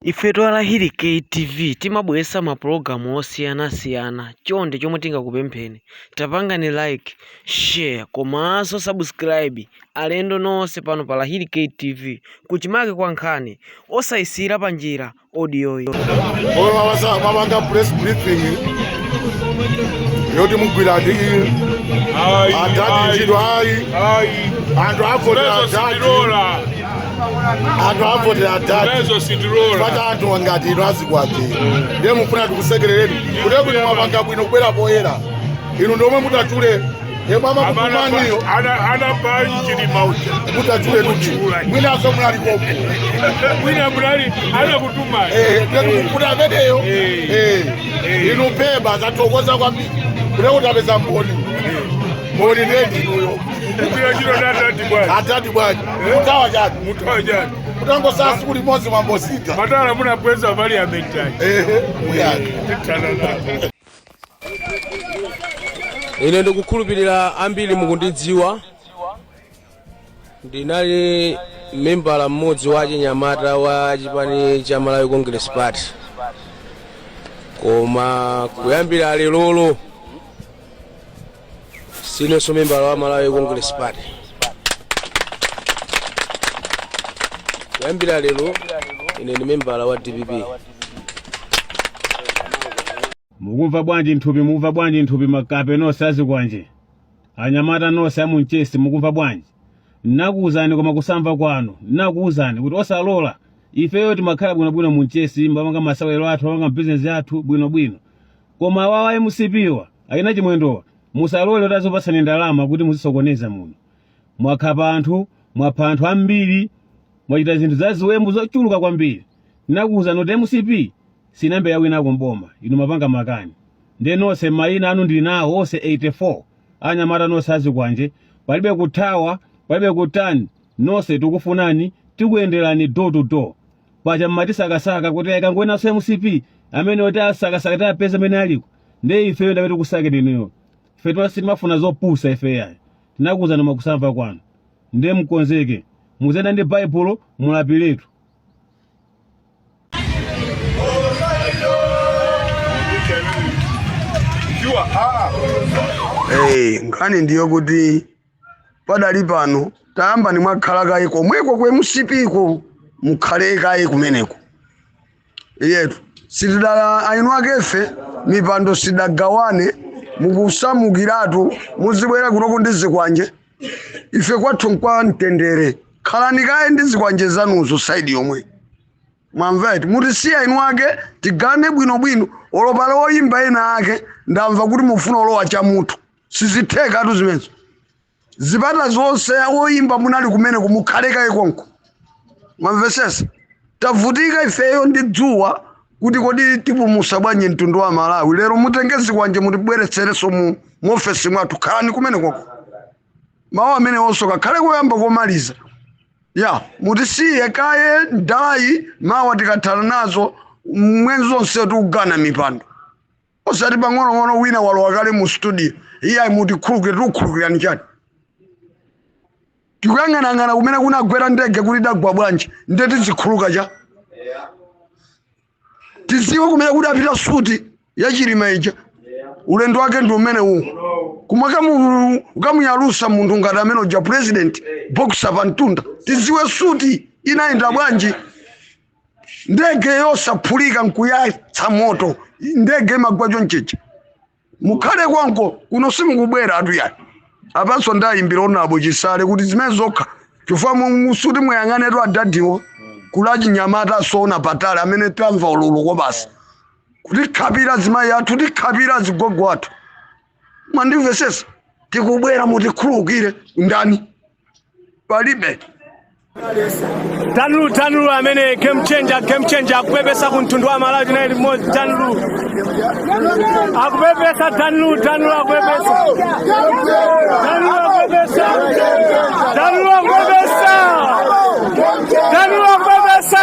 Ifetu a Lahirikay TV timabweretsa ma program osiyana siyana chonde chomwe tingakupempheni tapangani like, share komanso subscribe alendo nonse pano pa Lahirikay TV kuchimake kwa nkhani osayisiyira panjira audioyi. Olo wawasa mawanga press briefing yoti mugwira ati adati ntchito ayi anthu afotola adati anthu avotela adadi Lezo sitirora. pata anthu angati inu azikwanje ndiye mufuna tikusekerereni kuti kuti mwapanga bwino kubwera poyera inu ndomwe mutatule yemwe amakutumaniyo anapali chilima uja mutatule kuti mwinaso munali konko mwina munali anakutumani kuti ameneyo Eh. eh, Eh. inu pemba tathokoza kwambiri kuti kuti tapeza mboni mboni ndendinuyo kugwira chiro natati bwana atati bwanji mutawa chani mutawa chani mutangotsala tsiku limodzi mwambosita matala munabweza pali ametaji ehe muyani ine ndikukhulupirira ambiri mukundidziwa ndinali membala mmodzi wa achinyamata wa chipani cha malawi congress party koma kuyambira lerolo siinenso membala wa malawi congress party kuyambira lero ine ndi membala wa dpp mukumva bwanji nthupi mukumva bwanji nthupi makape nonse azikwanje anyamata nonse amunchesi mukumva bwanji nakuwuzani koma kusamva kwanu nakuwuzani kuti osalola ifeyo timakhala bwinobwino munchesi mmapanga masewero athu mmapanga bizinesi athu bwinobwino koma awawa a mcp-wa achina chimwendowa musalole kuti azikupatsani ndalama kuti muzisokoneza muno mwakhapa anthu mwapha anthu ambiri mwachita zinthu za ziwembu zochuluka kwambiri ndinakuwuzani kuti mcp sinambe yawinako mboma inu mapanga makani ndiye nonse mayina anu ndili nawo onse 84 anyamata nonse azikwanje palibe kuthawa palibe kutani nonse tikufunani tikuyenderani door to door paja mmatisakasaka kuti ayikangoenaso mcp ameneyo tiwasakasaka tiwapeza amene aliko nde ifeyo ndamene tikusakeni inuyo ife tima- sitimafuna zopusa ifeyo ayi tinakuuzani mwakusamva kwanu nde mkonzeke muziyenda ndi baibulo mulapiretu Hey, nkhani ndiyo kuti padali pano tayambani mwakhala kaye komweko ku mcp ko mukhale kaye kumeneko iyetu sitidagawane akefe mipando sidagawane mukusamukiratu muzibwera kunoko ndi zikwanje ife kwathu nkwa mtendere khalani kaye ndi zikwanje zanuzo saidi yomwe mwamveti mutisiye eniake tigawane bwinobwino olo pali oyimba ena ake ndamva kuti mufuna kulowa cha mutu sizithekatu zimenezo zipata zonse woyimba munali kumeneko mukhale kaye konko mwamvesesa tavutika ifeyo ndi dzuwa kuti kodi tipulumutsa bwanji mtundu wa malawi lero mutenge zikwanje mutibweretsereso mu ofesi mwathu khalani kumeneko ko mawu amenewo nsokakhale koyamba komaliza ya mutisiye kaye ndalayi mawa tikathana nazo mwenzi onse tikugawana mipando osati pang'onong'ono wina walowa kale mu studio iyayi mutikhulukire tikukhulukirani chani tikayang'anayang'ana kumene kunagwera ndege kuti idagwa bwanji nde tizikhululuka chani tiziwe kumene kudapita suti ya chilima ija ulendo wake ndi umene uwu kumakamu- ukamuyalusa munthu ngati amene uja president boxer pantunda tiziwe suti inayenda bwanji ndege yosaphulika nkuyatsa moto ndege imagwa chonchija mukhale konko kuno simukubwera atu yani apanso ndayimbira onabo chisale kuti zimene zokha chifukwa mu- musuti muyang'anetu adadi kuli achinyamata osaona patali amene tamva ululu kobasi kutikhapira azimayi athu kutikhapira azigogo athu mwandimvesesa tikubwera mutikhulukire ndani palibe Tanlu Tanlu amene game changer game changer akupepesa ku mtundu wa Malawi tinali limodzi Tanlu akupepesa Tanlu Tanlu akupepesa Tanlu akupepesa Tanlu akupepesa Tanlu akupepesa